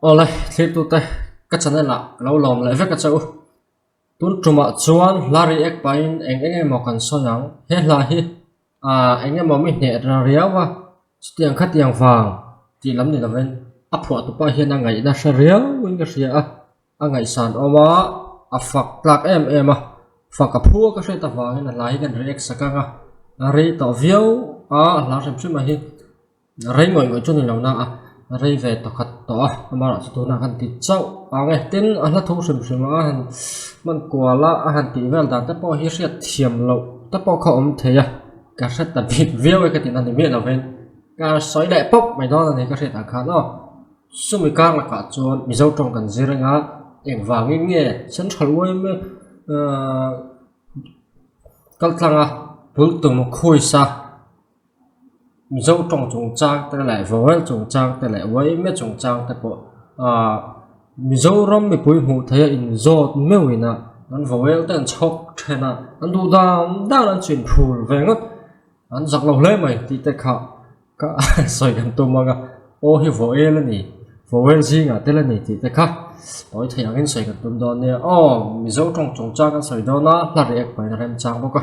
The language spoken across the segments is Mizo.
Awle thlihtute ka chanel ah ka lo lawm leh vek a che u, tun tumah chuan hla ri ek pahin eng eng emaw kan sawi ang, he hla hi aaa eng emaw mi hneh ril riau a chutiang khatiang vang tih lam ni lovin a phuah tu pah hian a ngaihna hre riau in ka hria a, a ngaihsan awm a a fak tlak em em a faka phua ka hriat avangin a hla hi ka react sak ang a, a rei tawh viau a a hla hrim hrim a hi. rei ngawih ngawih chu ni lo na a rei ve ta khat tawh a amanah chu tuna kan tih chauh ang e tin a hla thu hrim hrim a han hman kual a a han tih vel dan te pawh hi hriat thiam loh te pawh kha awm thei a ka hre ta bik viau e ka ti na ni miah lovin ka sawi leh pawp mai dawn a ni ka hriat ang khan aw sumi kar lakah chuan mizo tawng kan zir eng a engvangin nge central uaime ahh kaltlang a pultung khuaisa. mizo tawng chung chang te leh vawal chung chang te leh uaime chung chang te pawh aaa mizoram mipui hmuh theih a inzawt meuh in a an vawel te an chhawp then a an duh dan dan an chin phur ve ngawt an zak lo hle mai tih te kha ka sawi kan tum ang a aw hi vawel a ni vawel zingah tel a ni tih te kha tawi thei ang in sawi kan tum dawn nia aw mizo tawng chung chang kan sawi dawn a hla ri ek pahin a remchang bawk a.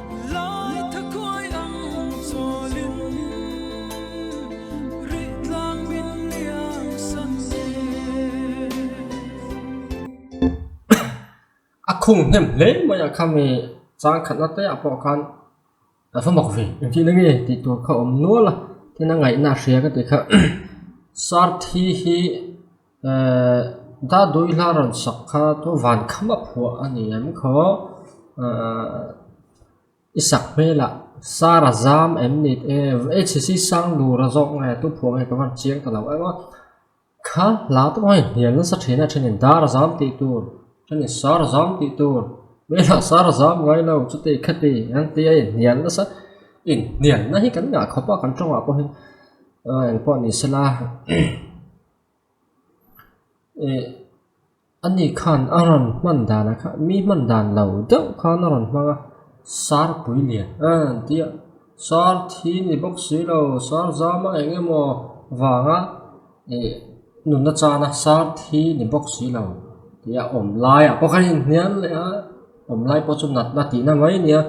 A khung hnem hle mai a kha mi changkhatna te ah pawh khan a va mak ve em tih na nge tih tur kha a awm nual a tin a ngaihna a hria ka ti kha sarthi hi-- Dahdawi hla rawn sak kha chu van khama phuah a ni ang khaw i sak hmelah sara zam em ni e hcc sang dura zawk nge tu phuah nge ka van chiang ta loh eng a kha hla tawh ange hnial nasa thin a then in dara zam tih tur then in sara zam tih tur hmelah sara zam ngai lo chute i kha ti ang tia a inhnial nasa inhnialna hi kan ngah khawp a kan tawngah pawhin engpawh ni sela. eh ani khan a rawn hman dan a kha mi hman dan lo deuh khan a rawn hmang a sarpui lian eee an tia sarthi ni bawk si lo sarzama eng emaw vanga eh nun nachana sarthi ni bawk si lo tih a awm laiah pawh ka inhnial leh a. awm lai pawh chu natna tihna mai a nia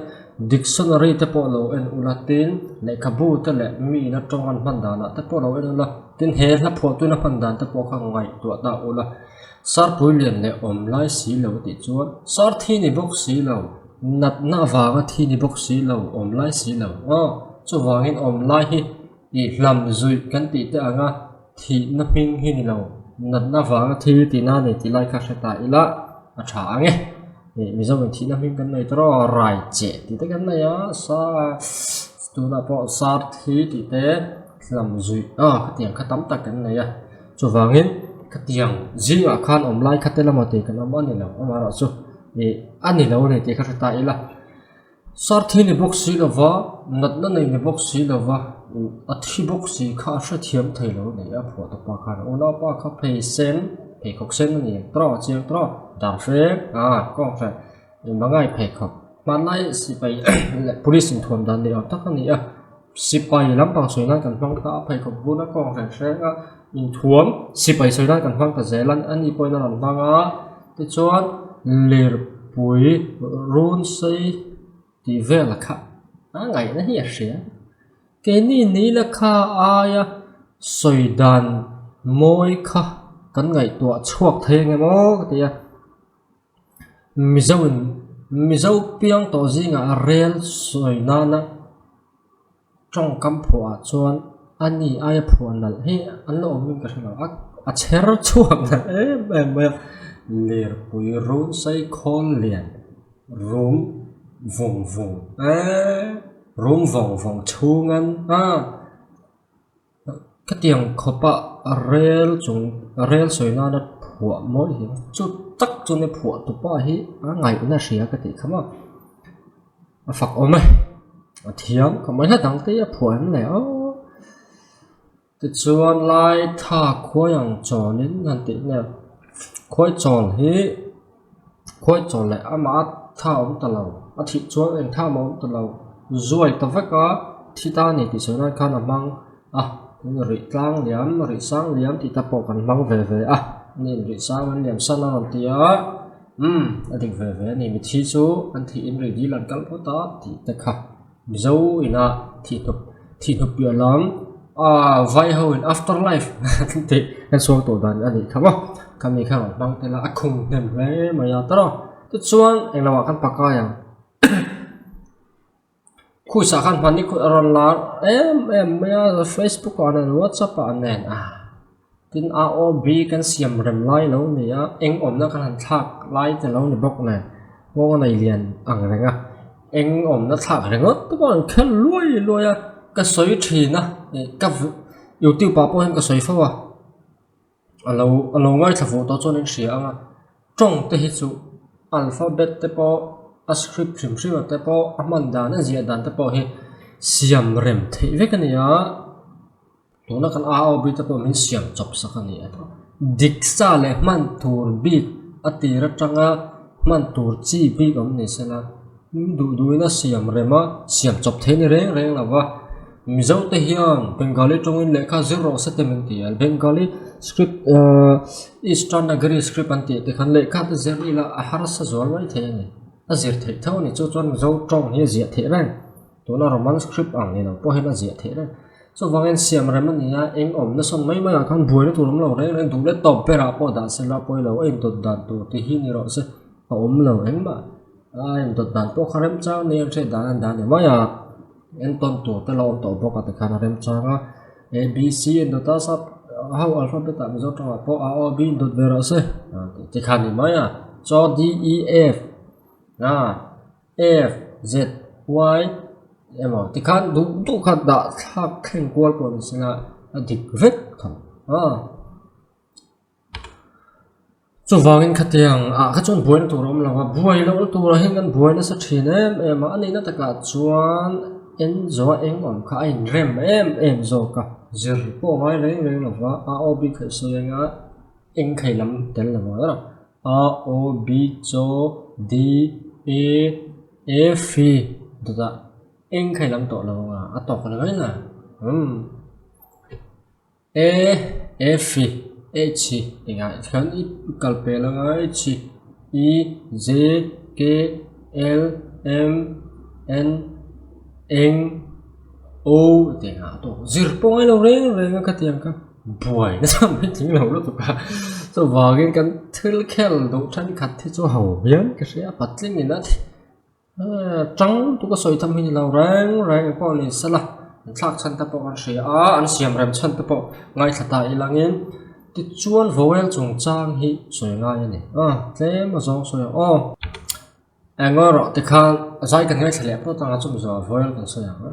dictionary te pawh lo en ula tin lehkhabu te leh miin atang an hman dan ah te pawh lo en ula tin he hla phuah tuna hman dan te pawh kha ngaihtuah ta ula sarpui lian leh awm lai si lo tih chuan sarthi ni bawk si lo natna avanga thi ni bawk si lo awm lai si lo aw chuvangin awm lai hi-- I hlam zui kan tih teh ang a, thihna hming hi ni lo, natna vanga thil i tina nei tih lai kha hre ta ila a tha ang e. Mizoramin thihna hming kan nei tawrh a, Raiche tih te kan nei a, tunah pawh Sarthi tih te hlam zui ah khatiang kha tam tak kan nei a, chuvangin khatiang zingah khan awm lai kha te lamah tih kan awm a ni lo, amaherawhchu a ni lo a ni tih kha hre ta ila. Sarthi ni bawk si lova, natna nei ni bawk si lova, a thi bawk si kha a hrethiam thei lo a nih a Phuahta pa khan. A unau pa kha phei sen, pheikhawk sen a ni trawh a chiang trawh a, dar hrek a kawng hrek. Mangai pheikhawk hmanlai sipai leh police inthuam dan ni awm tak a ni a. Sipai lampang sawi nan kan hmang ta a, pheikhawk bun a kawng hreng hreng a, inthuam sipai sawi nan kan hmang ta zel a, a ni pawhin a rawn hmang a, tichuan lirpui runsei tih vel kha a ngaihna hi a hria, keini ni ila kha aia sawi dan mawi kha kan ngaihtuah chhuak thei ang emaw ka tia. Mizo in Mizo piang tawh zingah rel sawi nana tawngkam phuah ah chuan ani aia phuah nalh hi an la awm in ka hre lo a a chher chhuak nalh em em mai a lirpui run sai khawl lian rum vung vung eee rum vawng vawng chhunga a. khatiang khawpa rel chung rel sawi nana phuah mawi hle a chuh tak chuan mi phuah tu pa hi a ngaihna hria ka tih kha mak a fak awm e a thiam ka mai hlat ang te hi a phuah em leh aw tichuan lai tha khuai ang chawnin han tih nge khuai chawl hi-- Khawi chawl leh amah tha a awm ta lo, a thih chuang eng tha a awm ta lo, zuai ta vek a thi ta a ni tih sawi nan khan a hmang a, in rih tlang liam, rih sang liam tih te pawh kan hmang ve ve a, an in rih sang an liam san a rawn ti a, umm a dik ve ve a ni, mithi chu an thih in rih dil an kal phawt a tih te kha. Mizo ina thihnup thihnup piah lam aa vai ho in after life kan tih kan sawi tawh dan a nih kha maw kan ni khan an hmang tel a a khung hnem hle mai a tara chu chuan eng lamah kan pa kai ang khus ah khan hmani kut a rawn lar em em mai a facebook ah nen whatsapp ah nen ah. Tin, a OB kan siam rem lai lo nia, eng awmna kan han thlak lai te lo ni bawk nè, ngaw a nei lian ang reng a, eng awmna thlak ringawt te pawh an khelh luai luai a, ka sawi thin a, ka youtube ah pawh hian ka sawi fo a, a lo a lo ngaithla fuh tawh chuan in hria ang a, tawng te hi chu alphabet te pawh a script hrim hrim a te pawh a hman dan a ziah dan te pawh hi siam rem theih vek a nia. Tuna kan aa awp bik te pawh min siam chawp sak a ni. Diksa leh hman tur bik a tir atanga hman tur chi bik awm ni sela min duh duh in a siam rem a, siam chawp theih a ni reng reng lova. Mizo te hian Bengali tawngin lehkha zir rawh se tem an ti a, Bengali script aaa Eastern Nagari script an tih tikhan lehkha te zir ila a harsa zual mai thei a ni. A zir theih tho a ni chu chuan Mizo tawng hi a ziah theih reng. Tuna Roman script ang ni lo pawhin a ziah theih reng. Chuvangin siam rem a ni a, eng awmna sawn mai maiah khan buaina tur awm lo reng reng duh leh tawp berah pawh dah se la, pawi lo a indawt dan tur te hi ni rawh se, a awm lo engmah a indawt dan pawh kha remchang ni ang che dan a dah ni mai a, entawn tur te la awm tawh bawk a tikhan a remchang a, ABC a indawt a, sub ho alphabet ah mizo tangah pawh a o b indawt ve rawh se, tikhan a ni mai a, chaw DEF aa F, Z, Y emaw tikhan duh duh kha dah thlak thleng kual pawh ni sina a dik vek tho a chuvangin khatiang a kha chuan buaina tur awm lo a buai loh na tura hian kan buai nasa thin em em a a neihna takah chuan Enzo-a eng awm kha a inrem em em zawk a zir pawh a ngai reng reng lova a awbik theih sawi anga engkheilam tel lo va la. A O B cho D E F I dawtah eng kha i lam tawh lo a a tawk lo em a umm E F I H I engah khian i kal pe lo a H I E Z K L M N eng O tih engah a tawk zir pawi lo reng reng a khatiang kha. buai nasa ang mai tling lo lutuk a chuvangin kan thil khel duh thenkhat hi chu hau hian ka hria a patling in a chang tuk a sawi tham hi lo reng reng pawh a ni sa la an thlak chhan te pawh ka hria a an siam rem chhan te pawh ngaithla ta i lang in tichuan vowel chung chang hi sawi ngai a ni a tlem a zawng sawi ang aw eng emaw erawh tikhan zai kan ngaithla leh pawt ang a chumi zawh ah vowel kan sawi ang a.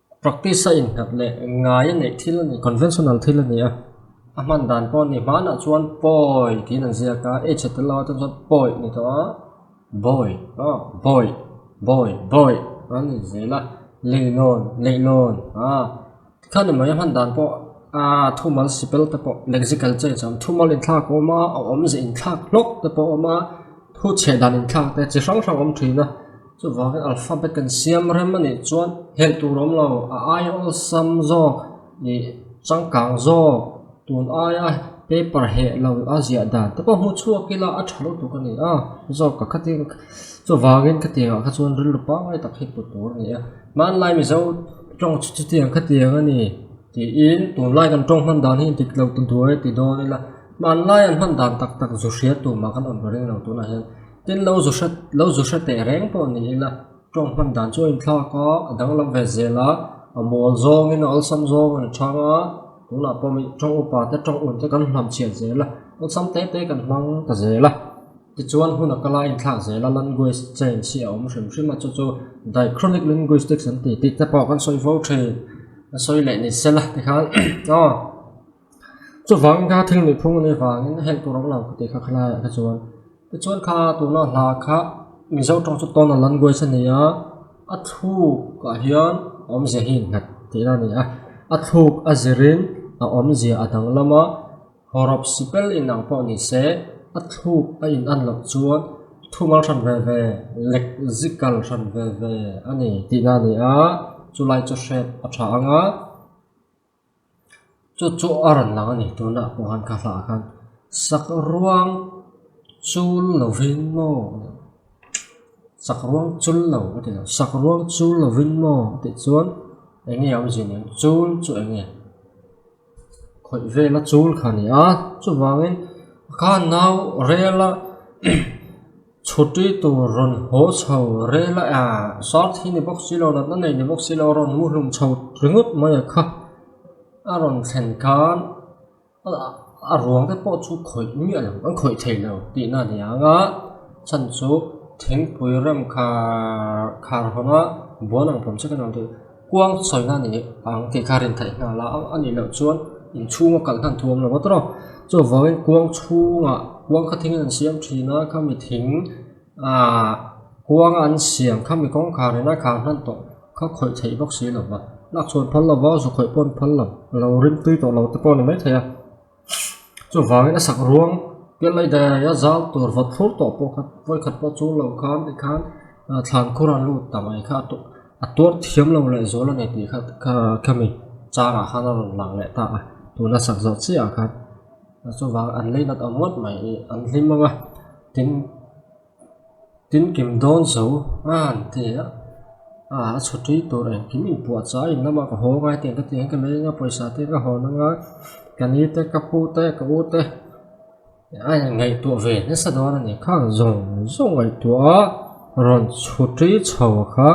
Practice a innghat leh ngai a neih thil a ni. Conventional thil a ni a. A hman dan pawh a ni. Hmanah chuan pawi tiin an ziak a, h a tel lo a, chuan chuan pawi a ni tawh a, bawi, aw, bawi, bawi, bawi an ni zel a, leilawn, leihlawn, aah. Tikhan a mawih a hman dan pawh aah thumal sipelte pawh lexical change a awm, thumal inthlak a awm a, a awmzia inthlak hlawk te pawh a awm a. Thu chheh dan inthlakte chi hrang hrang awm thin a, chuvangin alphabet kan siam rem a nih chuan hel tur awm lo, a ai awlsam zawk leh changkang zawk tun aia paper heh lo a ziah dan te pawh hmu chhuak ila a tha lo tuk a ni a, zawk ka khatin chuvangin ka tiangah kha chuan rilru pangngai tak hi hmu tur a ni a, hmanlai mizo tawng chu chutiang kha tiang a ni tiin tunlai kan tawng hman dan hi dik lo ta duai ti dawn ila. Hmanlai an hman dan tak tak zu hria tumah kan awmtawh reng lo tunah hian tin lo zu hre lo zu hre teh reng pawh ni ila tawng hman dan chu a inthlak a, a danglam ve zel a, a mawl zawngin a awlsam zawng a ni thang a, tunah pawh mi tawng upa te tawng un te kan hnam chhiat zel a, awlsam te te kan hmang ta zel a, tichuan hun a kala inthlak zel a, language change hi a awm hrim hrim a, chu chu diachronic linguistics an tih tih te pawh kan sawi fo thin a sawi leh ni sela tikhan aw. Chuvang kha thil miphung a nih vangin heng tur a awm lo ka tih kha khalaia kha chuan. Tichuan kha tuna hla kha Mizo tawng chu tawn a lan guai sa nia, a thlukah hian awmzia hi nghat theih ila ni a, a thluk a zirin a awmzia a danglam a, hawrap si ber inang pawh ni se a thluk a in an loh chuan thumal hran ve ve lek zi kal hran ve ve a ni tihna ni a, chulai chu hriat a tha ang a. chu chu a rawn lang a ni tuna a hmuh ang kha hlahah khan sak ruang chul lovin maw sak ruang chul lo a ti loh sak ruang chul lovin maw tih chuan eng nge awmzia nen chul chu eng nge khawih vela chul kha ni a chuvangin a kha nau rel a. Chhuti tur rawn haw chho rel a aa, Sarthi ni bawk si lo, natna nei ni bawk si lo, rawn muhlum chho ringawt mai a kha. A rawn thlen khan a ruang te pawh chu khawih miah lo, an khawih theih lo tihna a ni ang a, chhan chu thingpui rem khar khar hawn a buan ang pawm chek a ni awm tih. Kuang chawina nih ang tih kha rin theih nghal a, a nih loh chuan inchhunga kalh hlan thuam lo vat rawh. Chu vangin kuang chhunga kuang kha thingin an siam thin a, khami thing aah kuanga an siam khami kawngkhar ina khal hlan tawh kha khawih theih bawk si lo va, lakchhuan phal lo va, zu khawih pawh an phal lo, lo rim tui tawh lo te pawh a ni maithei a. Chuvangin a sak ruang piah laih daih a zau tur vawt thlur tawh pawh kha vawi khat pawh chu lo kham tih khan thlan khur a lut ta mai kha a tuar thiam lo leh zual a ni tih kha khami changah khan a rawn lang leh ta a tuna sak zawh chiahah khan chuvang an lei nat awm ngawt mai an hlim ang a tin-- Tin kim dawn zo nghal thei a a chhu tui tur a engkim inpuah chu a inlama ka haw ngai tih ang ka ti ang ka meng a pawisa te ka hawn anga ka ni te ka pu te ka u te a en ngaihtuah ve nasa dawn a ni khang zawng zawng ngaihtuah a rawn chhu tui chho kha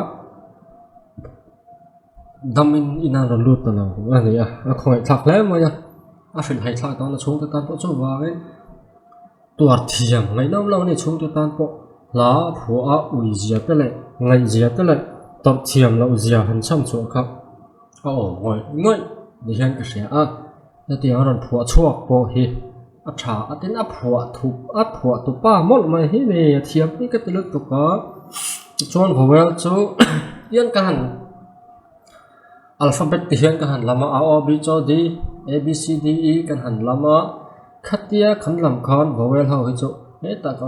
dam in in a rawn lut ta lo a ni a a khaw ngaih thlak hle mai a a hrilh haih thlak dawn a chhungte tan pawh chu vangin-- Tuar thiam ngaih lo lo nge chhungte tan pawh hla phua a ui zia te leh ngaih zia te leh tawrh thiam loh zia han cham chhuah kha a awm ngawih ngawih ni hian ka hria a, hetiang a rawn phua chhuak pawh hi a tha a tin a phua thup a phua tupa mawlh mai hi ni a thiam hi ka ti lut bawk a tichuan vawel chu kian ka han. Alphabet te hian ka han lam a a o b chaw d a b c d e kan han lam a khatia kan lam khan vowel ho hi chu hetah ka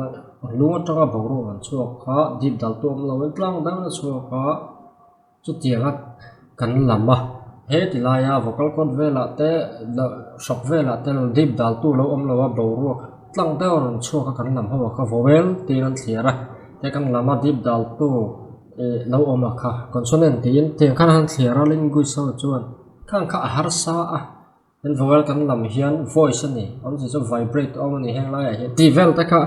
lung atanga boruak an chhuak kha deep dal tu awmlo in tlang dang a chhuak a chutianga kan lam a heti laia vocal cord velah te hrap velah te deep dal tu lo awmlo a boruak tlang deuh a rawn chhuak a kan lam ho ah kha vowel tiin an thliar a he kan lam a deep dal tu-- ih lo awm a kha consonant tiin hetiang khan han thliar a language ho chuan khang kha a harsa a an vowel kan lam hian voice a ni awmzia chuan vibrate a awm a ni heng lai ah hian tih vel te kha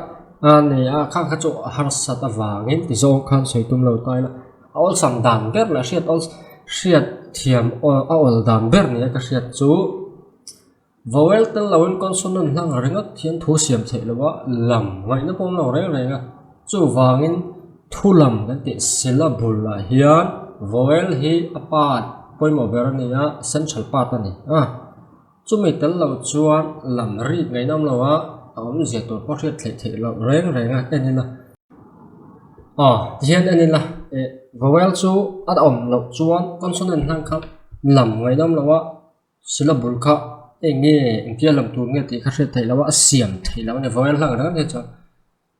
ahh ni a khang kha chu a harsa ta vangin ti zawng khan sawi tum lo ta ila a awlsam dan ber leh a hriat awlsam hriat thiam aw a awl dan ber nia ka hriat chu. Vowel tel loin consonant hlang ringawt hi an thu siam theih lo a, lam ngaihna pawh an lo reng reng a. Chuvangin thulam kan tih syllable lah hian vowel hi a part pawimawh ber a ni a, central part a ni a. Chumi tel lo chuan lam rit ngaihna awm lo a, a awm zia tur pawh hriat theih theih loh reng reng a en ila aw tihian en ila vowel chu a awm loh chuan consonant hlang kha lam ngaihna awm lo a. Sula bul kha eng nge engtial lam tur nge tih kha hriat theih loh a a siam theih loh a ni vawel hlang reng reng chuan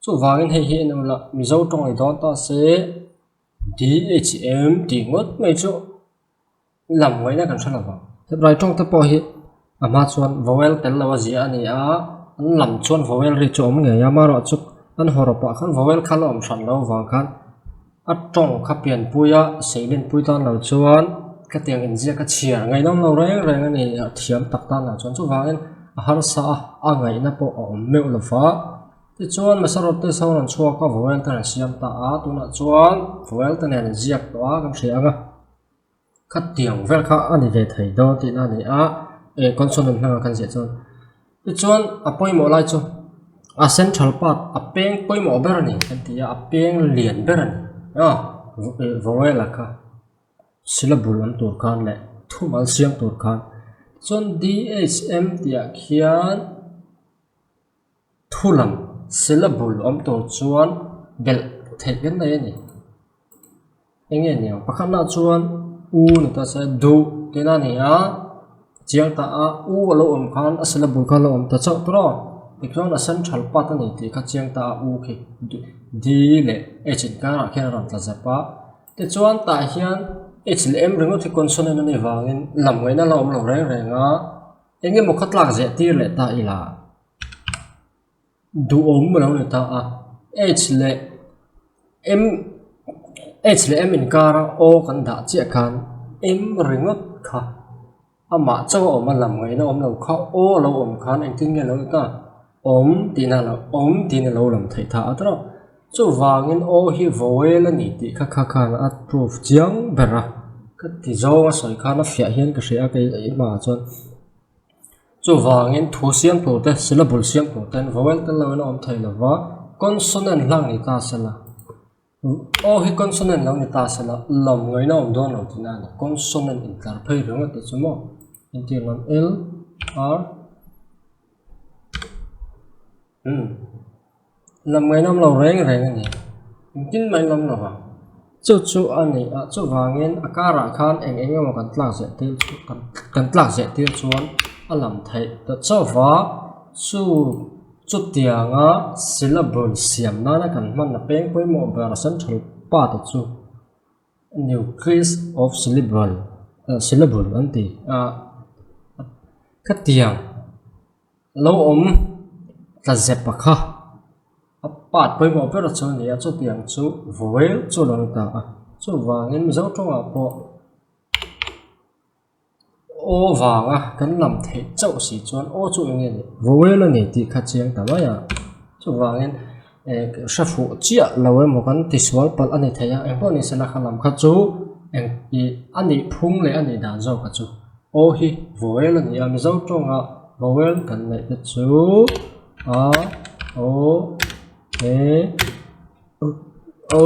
chuvangin hei hi enu lah mizo tawng ni dawn ta se dhm tih ngawt mai chu lam ngaihna kan hre lovang hetlai tawng te pawh hi a hma chuan vowel tel lo a zia a ni a an lam chuan vowel ri chu a awm ngei a amaherawhchu an hawrah pah khan vowel kha la awm hran lo vang khan. A tawng kha pianpui a seilenpui tan lo chuan khatiang inziak a chhiar ngaihnam lo reng reng a ni a thiam tak tan lah chuan chuvangin a harsa a a ngaihna pawh a awm meuh lo va tichuan hmasa rawt te sawn an chhuak a vawel ten an siam ta a tunah chuan vawel te nen an ziak tawh a kan hria ang a. Khatiang vel kha a ni ve thei daw tihna a ni a, eng consonant hmanga kan ziah chuan. Tichuan a pawimawh lai chu a central part a peng pawimawh ber a ni kan ti a, a peng lian ber a ni a, vowel a kha syllable awm tur khan leh thumal siam tur khan. Chuan DHM tihah khian. Thulam syllable awm tur chuan belh theih reng mai a ni. Eng nge ni ang? Pakhat na chuan u a ni ta se, du tih na a ni a, chiang ta a u a lo awm khan a syllable kha a lo awm ta chauh tur a, tichuan a central part a ni tih kha chiang ta a u khi du d leh h in karah khian a rawn tla zep a. Tichuan tah hian h leh m ringawt hi consonant a nih vangin lam ngaihna a la awm lo reng reng a. eng emaw khatlak zirtir leh ta ila duhawm alo ni ta a h leh m h leh m inkara o kan dah chiah khan m ringawt kha amah chauh a awm a lam ngaihna awm lo kha o alo awm khan engtin nge alo ni ta. Awm tihna lo awm tiin alo lang theih ta a trawk. Chuvangin aw hi vowel a ni tih kha kha khan a proof chiang ber a. Ka ti zawng a sawi khan a fiah hian ka hria kei a i hmaah chuan chuvangin thu siam tur te syllable siam tur ten vowel te lo in a awm thei lova consonant hlang ni ta se la. Aw hi consonant lo ni ta se la lawm ngaihna awm dawn lo tina ni consonant in tlar phei reng a tih chu maw entirah lo l r umm lawm ngaihna awm lo reng reng a ni engtin mah i lawm lo va chu chu a ni a chuvangin a karah khan eng eng emaw kan tlak ziah tir chu kan tlak ziah tir chuan a lam theih ta chauh va chu-- Chutianga syllable siam nana kan hmanna peng pawimawh ber central part a chu nucleus of syllable ah syllable an ti a khatiang lo awm ta zepa kha a part pawimawh ber a chu a ni a chutiang chu vowel chu a lo ni ta a chuvangin mizo tawngah pawh-- Aw vanga kan lam theih chauh si chuan aw chu enge nih vawel a ni tih kha chiang ta mai a, chuvangin eh hrefu chiah lo emaw kan tisual palh a ni thei a, engpawh ni se la kha lam khat chu eng ih a nih phung leh a nih dan zawkah chu aw hi vawel a ni a, Mizo tawnga vowel kan neih te chu a, aw, e, u, o.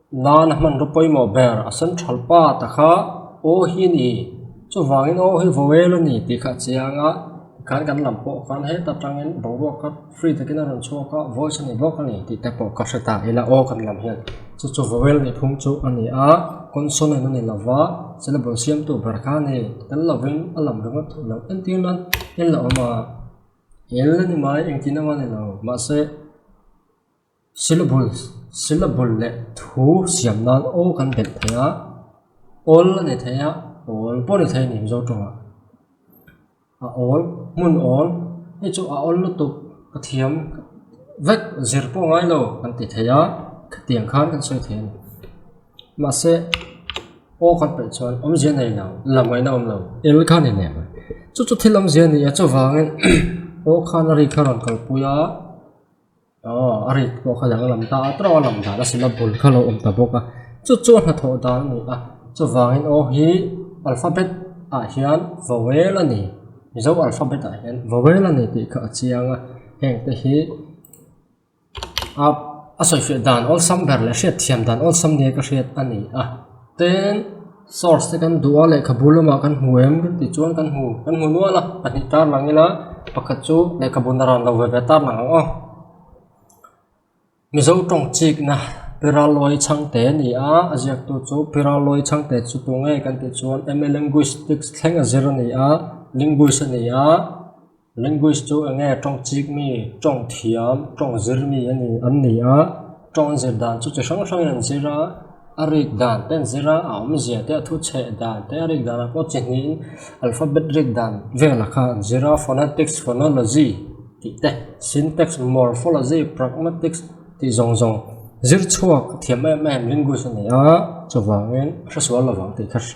Nana hmanraw pawimawh ber a sen ṭhal pat a kha, Aw hi a ni, chuvangin aw hi vawel a ni tih kha a chei ang a, tikhan kan lam pawh khan heta ṭangin boruak kha free takin a rawn chhuak a, voice a ni bawk a ni tih te pawh ka hre ta ila, aw kan lam hian chu chu vowel ni phung chu a ni a, consonant a ni lo va, syllable siamtu ber kha a ni, tel lovin a lam ringawt theih lo, entir nan en la awm a, el a ni mai engtin anga a ni lo, mahse. Syllable syllable leh thu siam nan aw kan belh thei a awl a ni thei a awl pawh a ni thei a ni mizo tawng ah a awl hmun awl hei chu a awl lutuk ka thiam vek zir pawh ngai lo kan ti thei a khatiang khan kan sawi thei a ni mahse aw kan paih chuan awmzia nei lo la mawina awm lo el kha a ni leh chu chu thil awmzia ni a chuvangin aw khan a ri kha a rawn kalpui a. Aw a rit pawh kha alo lang ta a trawh a lang dan a sina bul kha lo awm ta bawk a chu chu a hnathawh dan a ni a chuvangin aw hi alphabet ah hian vowel a ni mizo alphabet ah hian vowel a ni tih kha a chiang a heng te hi a sawi fiah dan awlsam ber leh hriat thiam dan awlsam nia ka hriat a ni a then-- Source te kan duh a lehkhabu lamah kan hmu em dik tih chuan kan hmu kan hmu nual a pahnih tar lang ila pakhat chu lehkhabu na ran lo ve ve tar lang ang aw Mizo tawng chikna Piralwi chhangte a ni a a ziaktu chu Piralwi chhangte chu tu nge kan tih chuan MA linguistics thleng a zir a ni a linguist a ni a. Linguist chu enge tawng chik mi, tawng thiam, tawng zir mi a ni? An ni a. Tawng zir dan chu chi hrang hrangin an zir a, a rik dan te an zir a, a awmzia te, a thuchheh dan te, a rik dan ah pawh chi hnihin alphabet rik dan vela kha an zir a, phonetics, phonology, tih te, syntax, morphology, pragmatics, tih zawng zawng zir chhuak thiam em em linguist a ni a, chuvangin a hre sual lovang tih kha hre.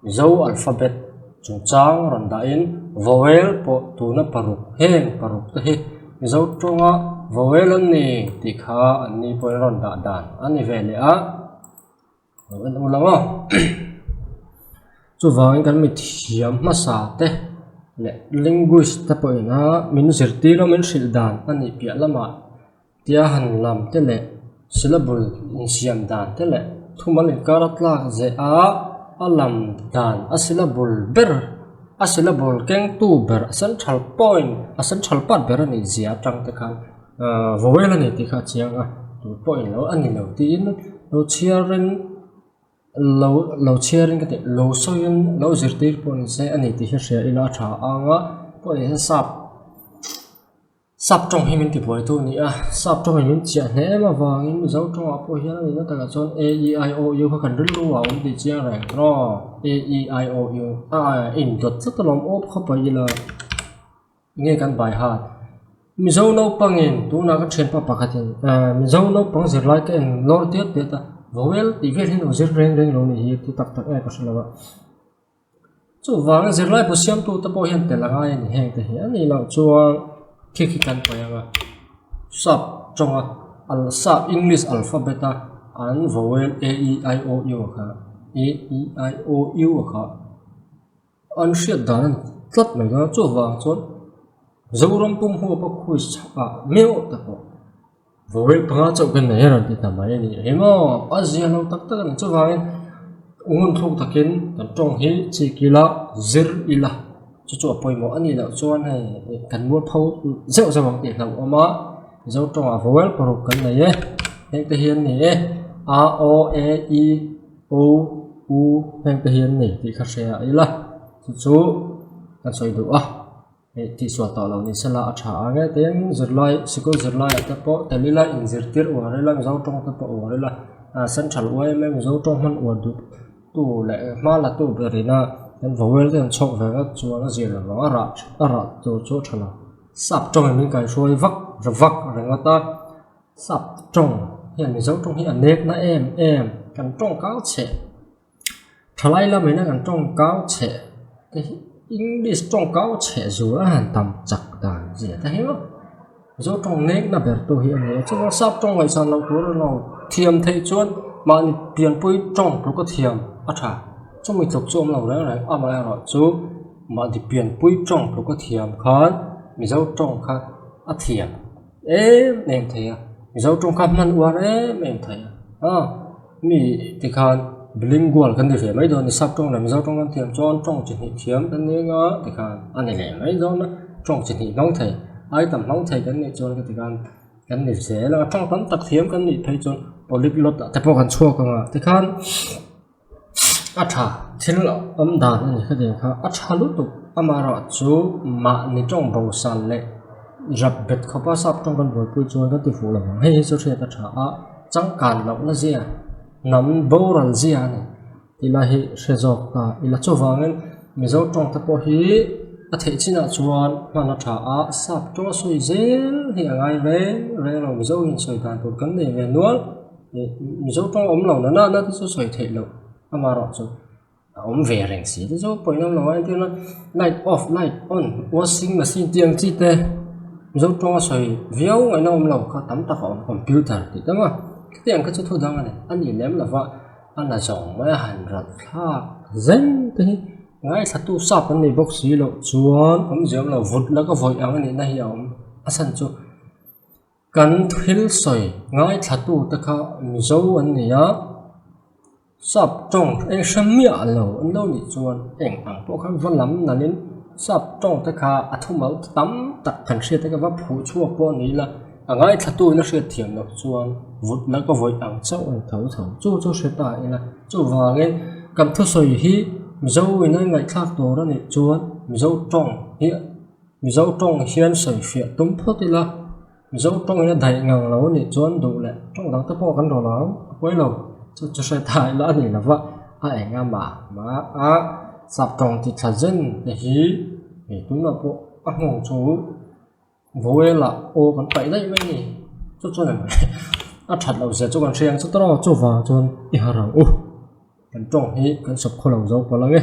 Mizo alphabet chungchang rawn dahin vowel pawh tuna paruk heng paruk te hi Mizo tawnga vowel an ni tih kha an ni pawhin rawn dah dan a ni ve leh a, lo en u lo aw chuvangin kan mithiam hmasa te leh linguist te pawhin a min zirtir a min hrilh dan a nih piah lamah. Tia han lam te leh syllable insiam dan te leh thumal inkar a tlak zeh a, a lam dan a syllable ber, a syllable kengtu ber, a central point, a central part ber a nih zia atang te khan vowel a ni tih kha a chiang a, tun pawh in lo a ni lo tiin lo chhiar in lo lo chhiar in ka tih lo sawi in lo zirtir pawh ni se a ni tih ka hria ila a tha ang a pawh ni hi sap. Sap tawng hi min tibuaitu a ni a, sap tawngin min chiah hneh em avangin Mizo tawngah pawh hian a nihna takah chuan a e i o u kha kan rilru a awm tih chiang reng tawh a e i o u a indawt tlat alawm awp khawpui ila enge kan baihat Mizo naupangin tunah ka thianpa pakhatin Mizo naupang zirlai te englo nawr tiat tiat a vowel tih vel hi a lo zir reng reng lo nih hi a tu tak tak nge ka hre lo a. Chuvangin zirlaibu siamtute pawh hian pe la ngai a ni heng te hian nih loh chuan thick hi kan paih anga sap tawnga al sap english alphabet a an vowel a e i o u a kha a e i o u a kha an hriat dan a ni tlat mai loh a chuvang chuan zoram pum ho ka khawichhak ah miau awt ta pawh-- Vawiin panga chauh kan nei a rawn ti ta mai a nih hi maw? A zia lo tak tak a nih chuvangin ngun thluk takin kan tawng hi chhi kila zir ila chu chu a pawimawh a nih loh chuan hei kan mual pho zeuh zeuh ang tih hlauh a awm a Mizo tawngah vowel paruk kan nei e hengte hi an ni e a aw e i o u hengte hi an ni tih kha hria ila chu chu kan sawi duh a. Hei tihsuah tah lo ni sela a tha ang e tin zirlai sikul zirlaiah te pawh tali ila in zirtir uai rila mizo tawng te pawh uai rila ah central uaia mai mizo tawng hman uai duh tu leh hma la tu berhina kan vawel te an chhawk ve vek chuan a zir lo lo a rah a rah tur chu a tha lo sap tawng in min kai hruai vak hre vak ringawt a sap tawng hian mizo tawng hi a nek na em em kan tawng kau cheh. thalai lam in a rawn tawngkau chhe english tawngkau chhe zûr a han tam chak dan zêt a hle a chu tawng mek na ber tu hi a ni a chuma sap tawng ngaihsan lo tur emaw thiam theih chuan mahni pianpui tawng tûrka thiam a ṭha chumi tluk chu a awm lo rêng rêng amaherawh chu mahni pianpui tawng tûrka thiam khân mizo tawng kha a thiam. em em thei a mizo ṭawng kha hman uar em em thei a ha mi tikhan bilingual kan ri ve mai dawn a ni sap ṭawng leh mizo ṭawng lam thiam chuan ṭawng chi hnih thiam kan ni anga tikhan a ni leh mai dawn a ṭawng chi hnih hmang thei ai tam hmang thei kan nih chuan heti kan kan ni zel a ṭawng tam tak thiam kan nih phei chu polyglot ah te pawh kan chhuak anga tikhan-- a tha thil awm dan a ni kha ding kha a tha lutuk ama erawh chu mahni tawng bo sal leh rap bet khawpa sap tawng kan buaipui chuan kan ti fuh lo ang hei hi chu hriat a tha a changkan loh na zia hnam boral zia a ni ti lai hi hre zawk a ila chuvangin mizo tawng te pawh hi a theih chinah chuan hman a tha a sap tawng sawi zel hi a ngai reng reng lo mizo insawi dan tur kan nei ve nual. Mizo tawng awm lo nana na te chu sawi theih loh ama erawh chu a awm ve reng si te chu pawimawh lo a entir na light off light on washing machine tih ang chi te mizo tawnga sawi viau ngawih na awm lo kha tam tak a awm computer tih te awma kheti ang kha chu thu dang a ni a nih lem lo va a la zawng mai a han rawlh thlak zeng te hi ngaithla tu sap an nei bawk si loh chuan awmzia awm lo vut laka vawi ang a nih na hi a awm a chhan chu-- Kan thil sawi ngaithlatu'te kha Mizo an ni a, sap tawng eng hre miah lo an lo nih chuan heng ang pawh kha va lam nalhin sap tawng te kha a thumau ta tam tak kan hriate ka va phuh chhuak pawh a ni ila a ngaithlatu in a hriat thiam loh chuan vut la ka vawi ang chauh a ni tho tho chu chu hre ta ila chuvangin kan thusawi hi Mizo in a inngaihthlak tur a nih chuan Mizo tawng hi-- Mizo tawng hian sawi hriah tum phawt ila, Mizo tawng hi a daih ngang lo nih chuan duh leh tawng dang te pawh kan rawn ang a pawi lo, chu chu hre ta ila a ni lova a eng a mah mah a, sap tawng ti thla zen te hi hei tum lam pawh a nghawng chu vawela aw kan paih daih mai ni, chu chuan em a that loh zia chu kan hria ang chu taraw chuvang chuan i harang u, kan tawng hi kan sawp khaw lo zo pawlh ang e.